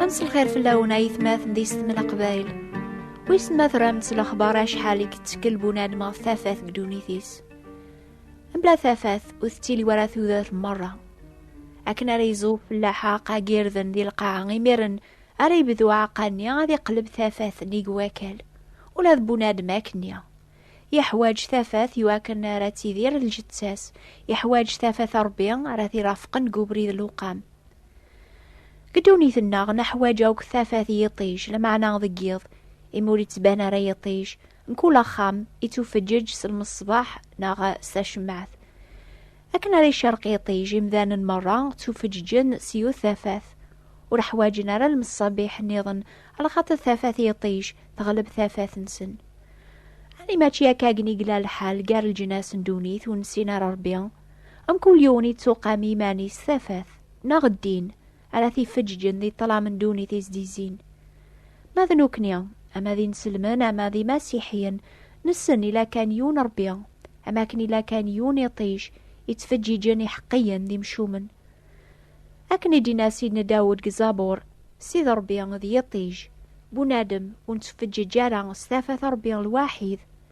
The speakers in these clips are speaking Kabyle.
Ad nesselxir fell-awen ayetmaten d isetmen aqbayl. Wissen ma tramt s lexbar acḥal i yettkel bunadem ɣef tafat deg ddunit-is. Mebla tafat ur tettili wara tudert merra. Akken ara iẓu fellaḥa aqag irden di lqaɛa imiren ara yebdu aɛaqqa-nni ad iqleb tafat nnig wakal. Ula d bunadem akken-nni. Yeḥwaǧ tafat i wakken ara tidir lǧettas. Yeḥwaǧ tafat Ṛebbi ara t-irafqen deg ubrid lewqam. Deg ddunit-nneɣ neḥwaǧ akk tafat i yiṭij, lameɛna deg yiḍ, imi ur yettban ara yiṭij, mkul axxam ittufeǧǧeǧ s lmeṣbaḥ neɣ s tacemmaɛt. Akken ara icerreq yiṭij, imdanen merra ttufeǧǧeǧen s yiwet tafat. Ur ḥwaǧen ara lmeṣabiḥ nniḍen, lxaṭer tafat i yiṭij teɣleb tafat-nsen. Ɛni mačči akkagen i yella lḥal gar leǧnas n ddunit ur nessin ara Ṛebbi? Amkul yiwen yettuqam iman-is tafat neɣ ddin ara t-ifeǧǧǧen di ṭṭlam n ddunit i s-d-izzin. Ma d nekkni, ama d inselmen ama d imasiḥiyen, nessen ila kan yiwen Rebbi, am akken ila kan yiwen iṭij yettfeǧǧiǧen iḥeqqiyen d imcumen. Akken i d-inna Sidna Dawed deg Zabur, Sid Rebbi d yiṭij, bunadem ur nettfeǧǧiǧ ara s tafat Rebbi lwaḥid,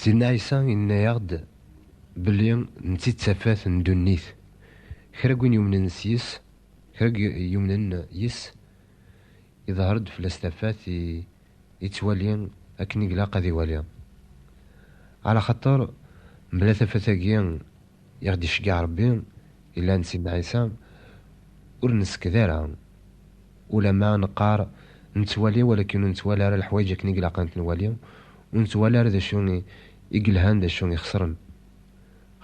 Sidna Ɛisa yenna-aɣ-d belli netta i d tafat n ddunit. Kra n win yumnen s yes, kra n win yumnen yes, iḍher-d fell-as tafat, yettwali akken i glaq ad iwali. Ɛlaxaṭer mebla tafat-agi, I ɣ-d-iceggeɛ Rebbi yellan d Sidna Ɛisa, ur nesked ara, ulamma neqqar nettwali walakin ur nettwali ara leḥwayeǧ akken i ilaq ad ten-nwali, ur nettwali ara d acu i yelhan d acu ixesren.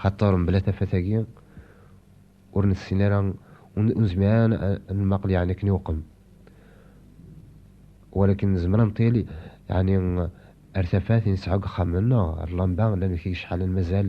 Xaṭer mebla tafat-agi ur nessin ara, ur nezmir ara ad nemaqel yeɛni akken iweqqem. Walakin nezmer ad neṭil yeɛni ar tafat i nesɛa deg uxxam-nneɣ, ar lamba, llan deg-k yicḥalen mazal,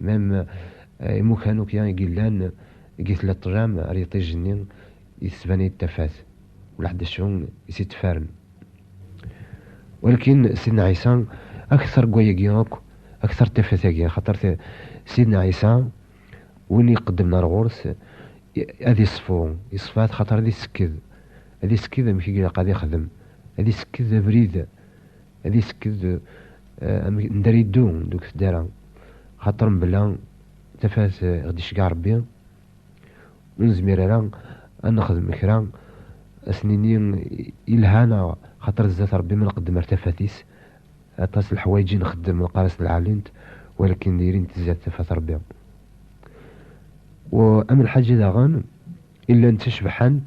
Mem imukan akya i yellan deg i tella ṭlam ar yiṭij-nni i tettban-iyi-d tafat, walaḥ d acu i s-ittfaren. Walkin Sidna Ɛisa akteṛ deg wayagi akk, akteṛ d tafat-agi, axaṭer Sidna Ɛisa win i iqeddmen ar ɣur-s ad iṣfu, iṣfa-t axaṭer ad isekked, ad isekked amek i ilaq ad ixdem, ad isekked abrid ad isekked amendar iddu deg tdara xaṭer mebla tafat ɣ-d-iceggeɛ Rebbi ur nezmir ara ad nexdem kra ad s-nini yelha neɣ xaṭer zdat Rebbi ma nqeddem ar tafat-is aṭas n leḥwayeǧ i nxeddem neqqar-as d lɛalint walakin diri-nt zdat tafat Rebbi u am lḥaǧa daɣen i llant ttacebḥant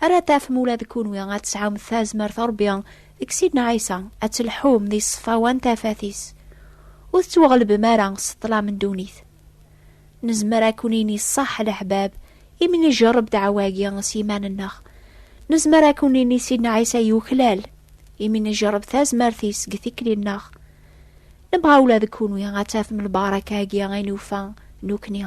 Ara tafem ula d kunwi ad tesɛum tazmert n Rebbi deg Sidna Ɛisa, ad tleḥḥum di ṣṣfawa n tafat-is, ur tettwaɣelbem ara s ṭṭlam n ddunit. Nezmer ad ken-nini ṣṣeḥ a leḥbab imi njerreb ddeɛwa-agi s yiman-nneɣ. Nezmer ad ken-nini Sidna Ɛisa yuklal imi njerreb tazmert-is deg tikli-nneɣ. Nebɣa ula d kunwi ad tafem lbaraka-agi i nufa nekni.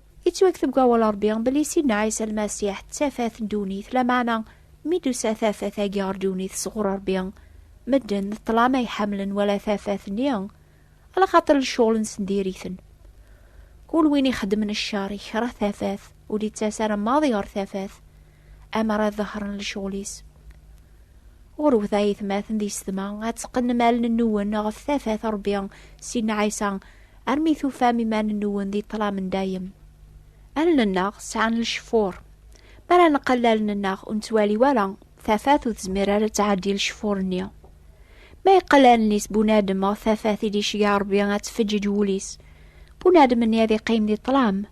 Yettwakteb deg wawal Ṛebbi belli Sidna Ɛisa Lmasiḥ d tafat n ddunit, lameɛna mi d-tusa tafat-agi ɣer ddunit sɣur Ṛebbi, medden d ṭṭlam ay ḥemmlen wala tafat-nni, ala xaṭer lecɣel-nsen diri-ten. Kul win ixeddmen cceṛ, ikreh tafat, ur d-ittas ara maḍi ɣer tafat. amer ad ḍehren lecɣel-is. Ɣurwet ay itmaten di setma, ad teqqnem allen-nwen ɣef tafat Rebbi si Ɛisa, armi tufam iman-nwen di ṭṭlam n dayem. Allen-nneɣ sɛan lecfur. Mi ara neqqel allen-nneɣ ur nettwali wara, tafat ur tezmir ara ad tɛeddi lecfur-nni. Ma yeqqel allen-is bunadem ɣef tafat i d-iceggeɛ Rebbi ad tfeǧǧeǧ wul-is, bunadem-nni ad iqqim di ṭṭlam.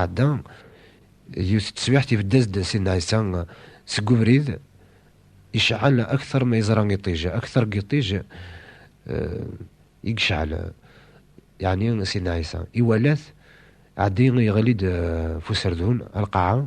Ɛedda, yiwet n teswiɛt ibedd-as-d Sidna Ɛisa seg ubrid, iceɛɛel akteṛ ma yeẓra iṭij, akteṛ n yiṭij i yeceɛɛel, yeɛni Sidna Ɛisa, iwala-t, ɛeddi, yeɣli-d ɣef userdun, ar lqaɛa,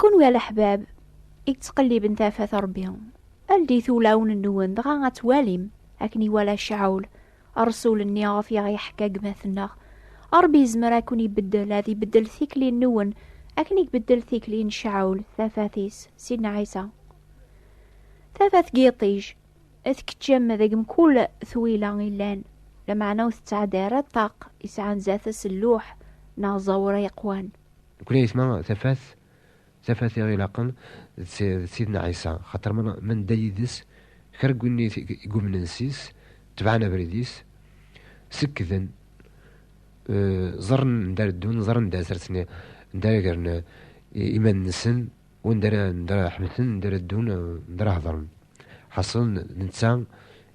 Kunwi a leḥbab i yettqelliben tafat Ṛebbi, aldit ulawen-nwen dɣa ad twalim akken iwala Caɛul, ṛṛsul-nni ɣef i aɣ-yeḥka gma-tneɣ. Ṛebbi yezmer ad ken-ibeddel, ad ibeddel tikli-nwen akken i ibeddel tikli n Caɛul, tafat-is, Sidna Ɛisa. Tafat n yiṭij tkeččem deg mkul twila illan, lameɛna ur tettɛedda ara ṭṭaq yesɛan zdat-s lluḥ neɣ ẓẓawra yeqwan. Nekkni ayetma tafat, tafat i ɣ-ilaqen d Sidna Ɛisa, xaṭer ma nedda yid-s, kra n win i yumnen sys, tebɛen abrid-is, sekkden, ẓerren anda ara ddun, ẓerren anda ara sersen, anda ara gren iman-nsen, u anda ara ḥebsen, anda ara ddun, anda ara hedren. Ḥaṣel d netta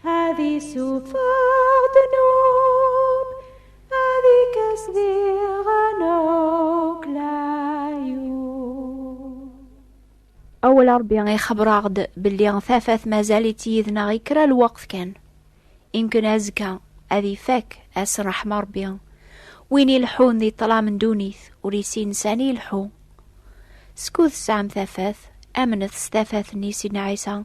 Ad isufeɣ ddnub, ad ikkes diɣen akk layu. Awal Ṛebbi ixebber-aɣ-d belli tafat mazal-itt yid-neɣ i kra lweqt kan. Imken azekka ad ifak ass n ṛṛeḥma Ṛebbi. Win ileḥḥun di ṭṭlam n ddunit ur yessin sani ileḥḥu. Skud tesɛam tafat, amnet s tafat-nni Sidna Ɛisa,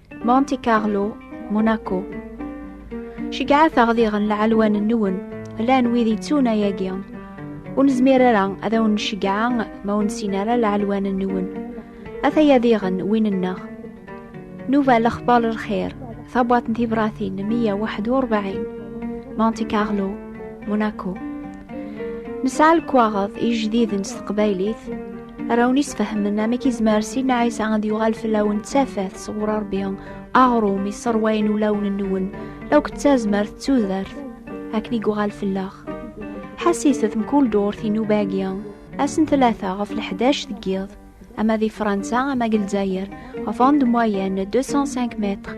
Monte Carlo, Monaco. Ceggɛet aɣdiɣen lɛelwan-nwen, llan wid yettun ayagi. Ur nezmir ara ad awen-nceggɛa ma ur nessin ara lɛelwan-nwen. Ataya diɣen win-nneɣ. Nuva lexbar lxir, tabwaṭ n tibratin 141, Monte Carlo, Monaco. Nesɛa lekwaɣeḍ ijdiden s teqbaylit, Ara wen-isfehmen amek izmer Sidna Ɛisa ad yuɣal fell-awen d tafat sɣur Ṛebbi, aɣrum isserwayen ulawen-nwen, akk d tazmert d tudert, akken i yuɣal fell-aɣ. Ḥassiset mkul durt inuba-agi, ass n tlata ɣef leḥdac deg yiḍ, ama di Fransa ama deg Lezzayer, ɣef rond moyenne 205 mètres,